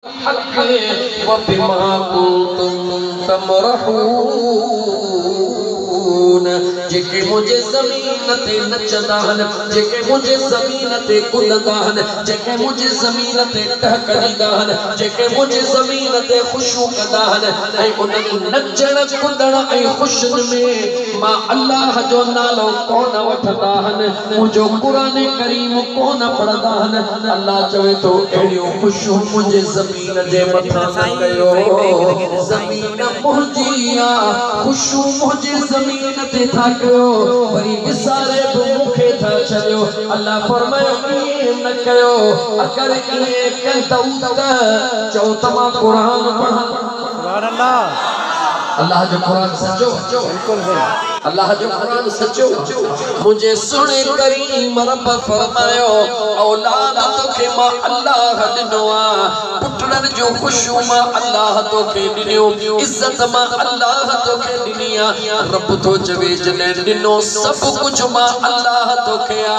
الحق وبما ڪنتم تمرحون جيڪي منهنجي زمين تي نچندا هن جيڪي منهنجي زمين تي ڪڏندا هن جيڪي منهنجي زمين تي ٽهڪ ڏيندا هن جيڪي منهنجي زمين تي خوشيون ڪندا هن ۽ انهن نچڻ ڪڏڻ ۽ خوشين ۾ مان الله جو نالو ڪونه وٺندا هن مون جو قرآن ڪريم ڪونه پڙهندا هن الله چوي ٿو اهڙيون خوشيون منهنجي زمين جي مٿان نه ڪيو زمين منهنجي آ خوشيون منهنجي زمين تي ٿا ڪيو وري وساري به مون کي ٿا ڇڏيو الله فرمايو ائين نه ڪيو اگر ائين ڪندؤ ته چئو ته مان قرآن پڙهان الله جو قرآن سچو الله جو قرآن سچو منهنجي سهڻي ڪريم رب فرمايو اولاد توکي مان الله ڏنو آ پٽڙن جو خوشيون مان الله توکي ڏنيون عزت مان الله توکي ڏني آ رب ٿو چوي جڏهن ڏنو سڀ ڪجهه مان الله توکي آ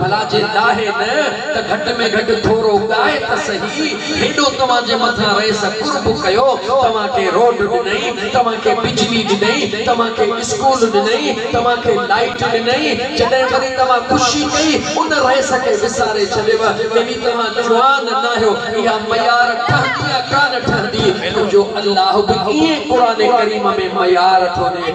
ڀلا جي ڏاهي نه ته گهٽ ۾ گهٽ ٿورو ڳائي ته سهي. هيڏو توهان جي مٿان رئيس قرب ڪيو، توهان کي روڊ ڏنئي، توهان کي بجلي ڏنئي، توهان کي اسڪول ڏنئي، توهان کي لائيٽ ڏنئي، جڏهن وري توهان خوشي ڪئي، ان رئيس کي وساري ڇڏيو، يعني توهان جوان ناهيو. اها ميار ٺهندي يا ڪانه ٺهندي، منهنجو الله به ائين قرآن ڪريم ۾ ميار ٿو ڏي.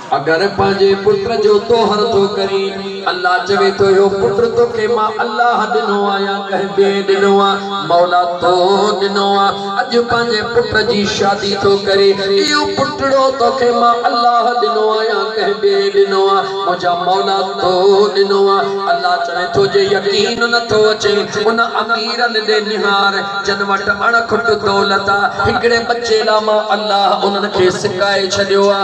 اگر پنهنجي پٽ جو طوهر ٿو ڪرين، الله چوي ٿو اهو پٽ توکي مان الله ڏنو آ يا ڪنهن ٻئي ڏنو آ؟ مولا تو ڏنو آ، اڄ پنهنجي پٽ جي شادي ٿو ڪرين، اهو پٽڙو توکي مان الله ڏنو آ يا ڪنهن ٻئي ڏنو آ؟ منهنجا مولا تو ڏنو آ. الله چوي ٿو جي يقين نٿو اچين ان اميرن ڏي نهار. جن وٽ اڻ کٽ دولت آ هڪڙي ٻچي لا مان الله انهن کي سڪائي ڇڏيو آ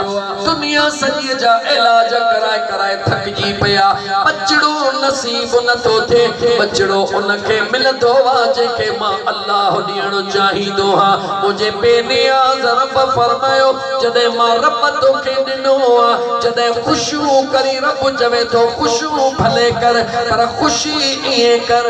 دنيا سڄي جا علاج ڪرائي ڪرائي ٿڪجي پيا ٻچڙو نصيب نه ٿو ٿئي ٻچڙو ان کي ملندو آ جنهن کي مان الله ڏيڻ چاهيندو آ منهنجي بي نياز رب فرمايو جڏهن مان رب توکي ڏنو آ جڏهن خوشيون ڪرين رب چوي ٿو خوشيون ڀلي ڪر پر خوشي ائين ڪر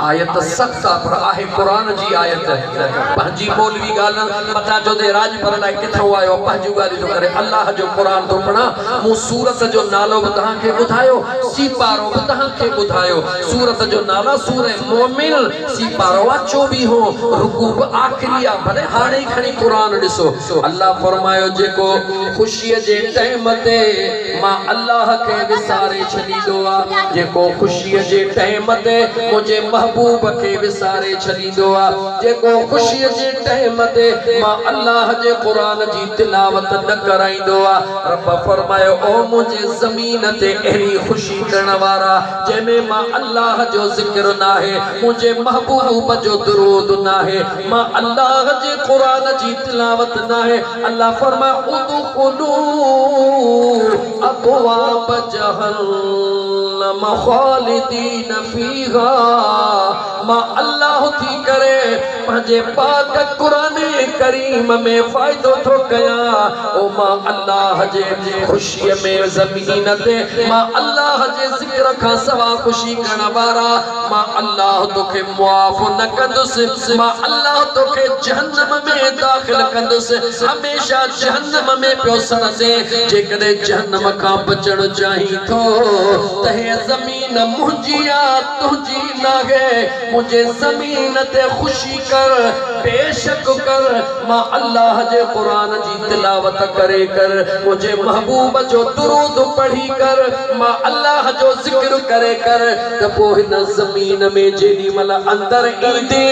آيت سخت آ پر آهي قرآن جي آيت پنهنجي مولوي ڳالهن پتا چوندي راڄپر لاء ڪٿئون آيو آ پنهنجيون ڳالهيون ٿو ڪري الله جو قرآن ٿو پڙهان مون سورت جو نالو به توهان کي ٻڌايو سيپارو به توهان کي ٻڌايو سورت جو نالا سوره مؤمن سيپارو آ چوويهون رڪوع به آخري آ ڀلي هاڻي ئي کڻي قرآن ڏسو الله فرمايو جيڪو خوشي جي ٽيم تي مان الله کي وساري ڇڏيندو آ جيڪو خوشيء جي ٽئيم تي منهنجي محبوب کي وساري ڇڏيندو آ جيڪو خوشيء جي ٽئيم تي مان الله جي قرآن جي تلاوت نه ڪرائيندو آ رب فرمايو او منهنجي زمين تي اهڙي خوشي ڪرڻ وارا جنهن ۾ مان الله جو ذڪر ناهي منهنجي محبوب جو درود ناهي مان الله جي قرآن جي تلاوت ناهي الله فرمايو ادخلو ابواب جهنم خالدين فيها مان الله ٿي ڪري پنهنجي پاڪ قرآن ڪريم ۾ فائدو ٿو ڪيان او مان الله جي خوشي ۾ زمين تي مان الله جي ذڪر کان سوا خوشي ڪرڻ وارا مان الله توکي معاف نه ڪندس، مان الله توکي جهنم ۾ داخل ڪندس، هميشه جهنم ۾ پيو سڙندين، جيڪڏهن جهنم کان بچڻ چاهين ٿو ته هيء زمين منهنجي آ، تنهنجي ناهي، منهنجي زمين تي خوشي ڪر، بيشڪ ڪر، مان الله جي قرآن جي تلاوت ڪري ڪر منهنجي محبوب جو درود پڙهي ڪر مان الله جو ذڪر ڪري ڪر ته پوء هن زمين ۾ جيڏي مهل اندر ايندي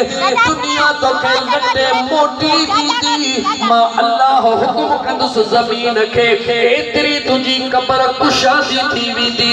دنيا توکي لٽي موٽي ويندي مان الله حڪم ڪندس زمين کي ايتري تنهنجي قبر ڪشادي ٿي ويندي